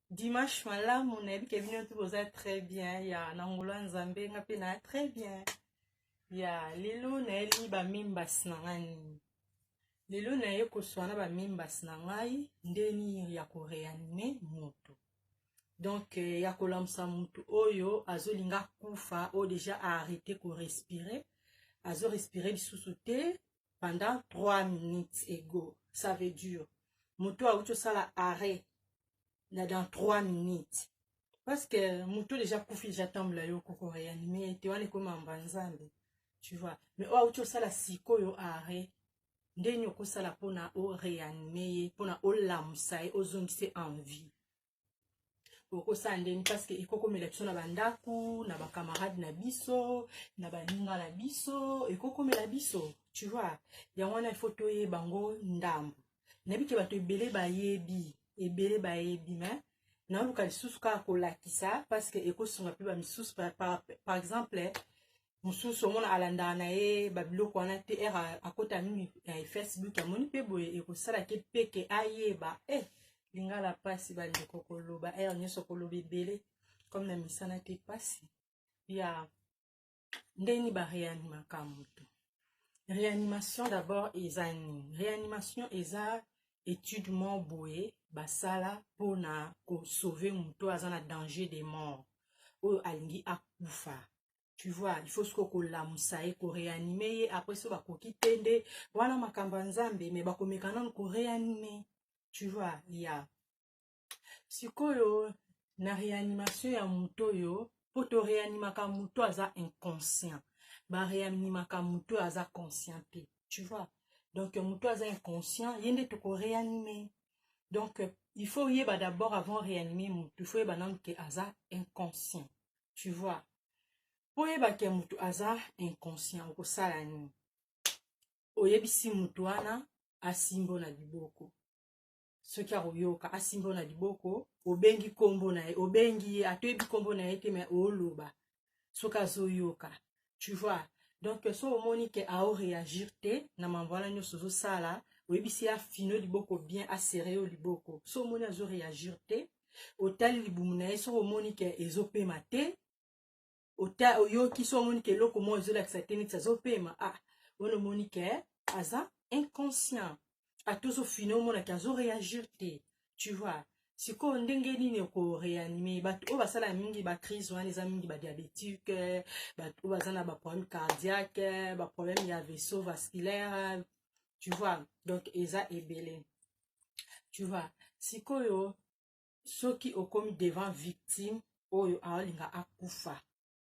dimanche malamu nayebi ke bino tu boza très bien ya na ngolo ya nzambe nga mpe na très bien ya lelo nayeli bamimbas na ngai nini lelo naye koswa na bamimbas na ngai nde nini ya koreanime moto donc eh, ya kolamusa moto oyo azolinga kufa oyo deja aarrete korespire azorespire lisusu te pendant 3 minutes ego ça veut dire moto auti osala arrêt na dans 3 minutes parce que moto deja kufi deja tambula yo koko reanime te wana ekoma mba nzambe tu vois mais oyo auti osala sikoyo arrêt ndeni okosala mpona oreanime ye mpona olamusa ye ozongisa en vie okosala ndeni parce que ekokomela biso na bandako na bacamarade na biso na baninga na biso ekokomela biso tu vois yango wana il faut toyeba yango ndambo nayebi ke bato ebele bayebi ebele bayebi mais naoluka lisusu kaka kolakisa parce que ekosunga mpe bamisusu par, par, par exemple mosusu omona alandaka na ye babiloko wana te r akota nini na eh, facebook amoni mpe boye ekosala ke peke ayeba e eh, lingala mpasi bandeko koloba r nyonso koloba ebele comme na misana te mpasi ya ndeni bareanimaka moto réanimation d'abord eza nini réanimation eza étude moko boye basala mpona kosauve moto aza na danger de mort oyo alingi akufa tu vois il faut siko kolamusa ye koreanime ye après so bakoki te nde wana makambo ya nzambe me bakomeka nano koreanime tu vois ya yeah. sikoyo na réanimation ya moto oyo mpo toreanimaka moto aza inconscient bareanimaka moto oyo aza conscient te tu vois donc moto aza inconscient ye nde tokoreanime donc il faut yeba d'abord avant réanime moto il faut yeba nano ke aza inconscient tu vois mpo oyeba ke moto aza inconscient okosala nini oyebisi moto wana asimbo na liboko soki akoyoka asimbo na liboko obengi nkombo na ye obengi ye atoyebi nkombo na ye te me oloba soki azoyoka tu vois donc so omoni ke ao réagir te na mambo wana nyonso ozosala oyebisi ye afino liboko bien asere yo liboko so omoni azo réagir te otali libumu na ye soki omoni ke ezopema te oyoki so omoni ke eloko moko ezolakisa te neti azopema ah wana omoni ke aza inconscient ata ozofina omona ke azo réagir te tu vois sikoyo ndenge nini oko réanime bato oyo basala mingi bacrise wana eza mingi badiabétique bato oyo baza na baproblème cardiaque baproblème ya vaisseau vasculaire tu vois donc eza ebele tu vois sikoyo soki okomi devant victime oyo aolinga akufa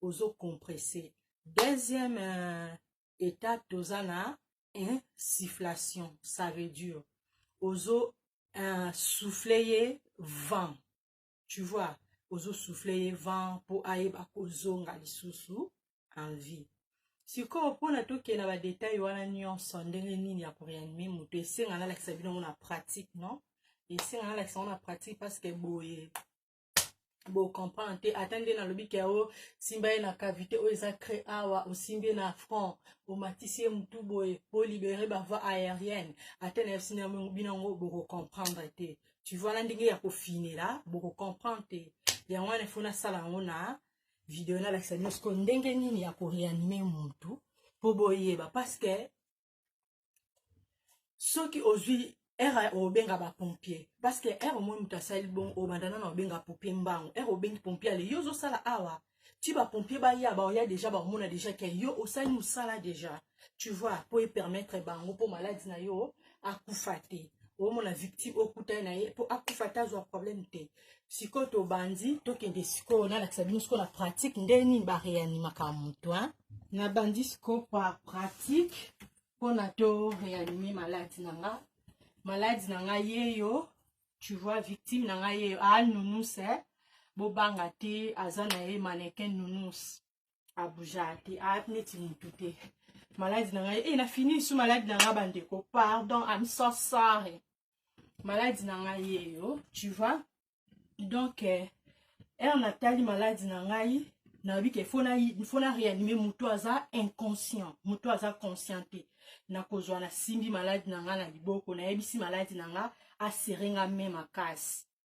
ozo compresse deuxième euh, étape toza na insufflation ça veut dire ozo euh, souffle ye vent tu vois ozo souffle ye vent mpo ayeba kozonga lisusu en vie sikoyo mpona tokenda badetail wana nyonso ndenge nini ya koreanime moto esenga nalakisa bino yango na pratique non esenga nalakisa yango na pratique parce que boye bo comprendre te ata nde nalobi ke o simba ye na cavité oyo eza cré awa osimbi ye na front omatisi ye motu boye bolibere bavoi aérienne ata na yebisi na bino yango bokocomprendre te tu vois na ndenge ya kofinela bokocomprendre te yango wana efo nasala yango na video nalakisa bino sikoyo ndenge nini ya koreanime motu mpo boyeba parce que soki ozwi ere obenga bapompier parce que ere omoni moto asali bon obanda nano obenga pompier mbango ere obengi pompier ale yo ozosala awa ti bapompier baya baoya deja bakomona deja ke yo osali mosala deja tu vois mpo epermettre bango mpo maladi na yo akufa te omona victime okutani na ye mpo akufa te azwa problème te sikoyo tobandi tokende sikoyo nalakisa bino sikoyo na pratique nde nini bareanimaka moto hein? nabandi sikoyo pa pratique mpona to reanime malade na nga malade na nga yeyo tu vois victime na nga yeyo aal ah, nounous e eh? bobanga te aza na ye manekin nounous abuja te aat ah, neti motu te malade na nga ye e eh, nafini su malade na nga bandeko pardon am so sorry maladi na ngai yeyo tu vois donc eh, ere natali maladi na ngai nayebi ke fo na réanime moto aza inconscient moto aza conscient te nakozwa nasimbi maladi na ngai na liboko nayebisi maladi na ngai asere ngai me makasi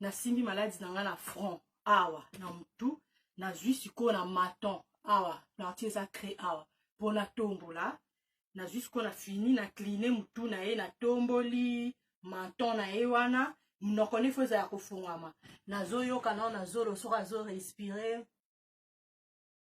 nasimbi maladi na ngai na front awa na motu nazwi sikoyo na maton awa parti eza cree awa mpo natombola nazwi sikoyo na fini na cline motu na ye natomboli maton na ye wana monoko nefo eza ya kofungwama nazoyoka nao na zolo soki azorespire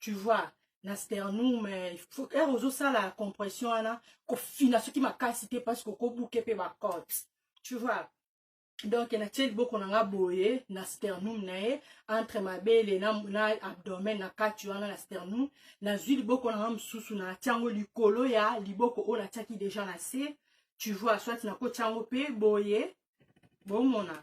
tu vois na sternum eh, ere ozosala compression wana kofina soki makasi te parce kokobuke mpe bacote tu vois donc natie liboko na nga boye na sternum na ye entre mabele na, na abdomen na kati wana na sternum nazwi liboko na nga mosusu natia yango likolo ya liboko oyo natiaki deja na se tu vois soit nakotia yango mpe boye bomona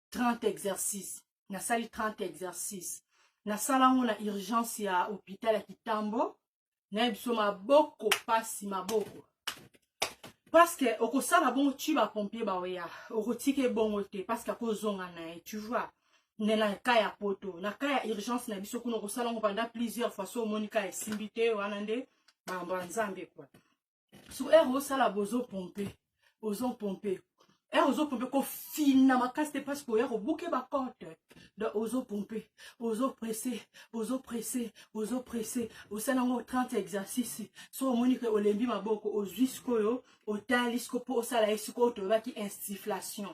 30 exercice nasali 30 exercice nasala yango na urgence ya hôpital ya kitambo nayebi biso maboko mpasi maboko parceke okosala bongo ti bapompier baoya okotika ebongo te parceke akozonga na ye tu vois nde na ka ya poto na ka ya urgence na biso kuna okosala yango panda plusieurs fois so omoni ka esimbi te wana nde makambo ya nzambe kua sur heure osala bozo pompe bozo pompe heure ozo pompe kofina makasi te parce que oya kobuke bacote donc ozo pompe ozo presse ozo presse ozo presse osala yango 30 exercice so omoni ke olembi maboko ozwi sikoyo otali siko mpo osala ye sikoyo tolobaki instiflation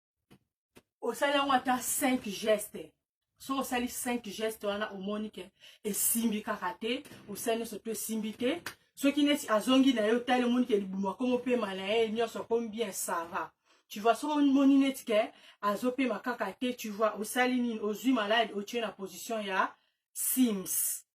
osali yango ata 5 geste soki osali 5 geste wana omoni ke esimbi kaka te osali nyonso to esimbi te soki neti azongi na ye otali omoni ke libumu akomi opema na ye nyonso akomi bien sava tu vois soki omoni neti ke azopema kaka te tu vois osali nini ozwi malade otie na position ya sims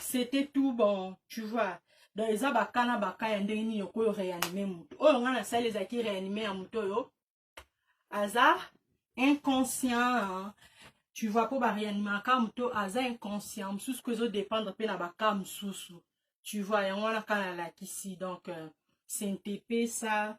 c'était tout bon tu vois donc eza baka na baka ya ndenge nini okoki oreanime moto oyo ngai nasali ezalaki reanime ya moto oyo aza inconscient tu vois mpo bareanimaka moto aza inconscient mosusu ko ezodépendre mpe na baka mosusu tu vois yango wana ka nalakisi donc euh, sentepesa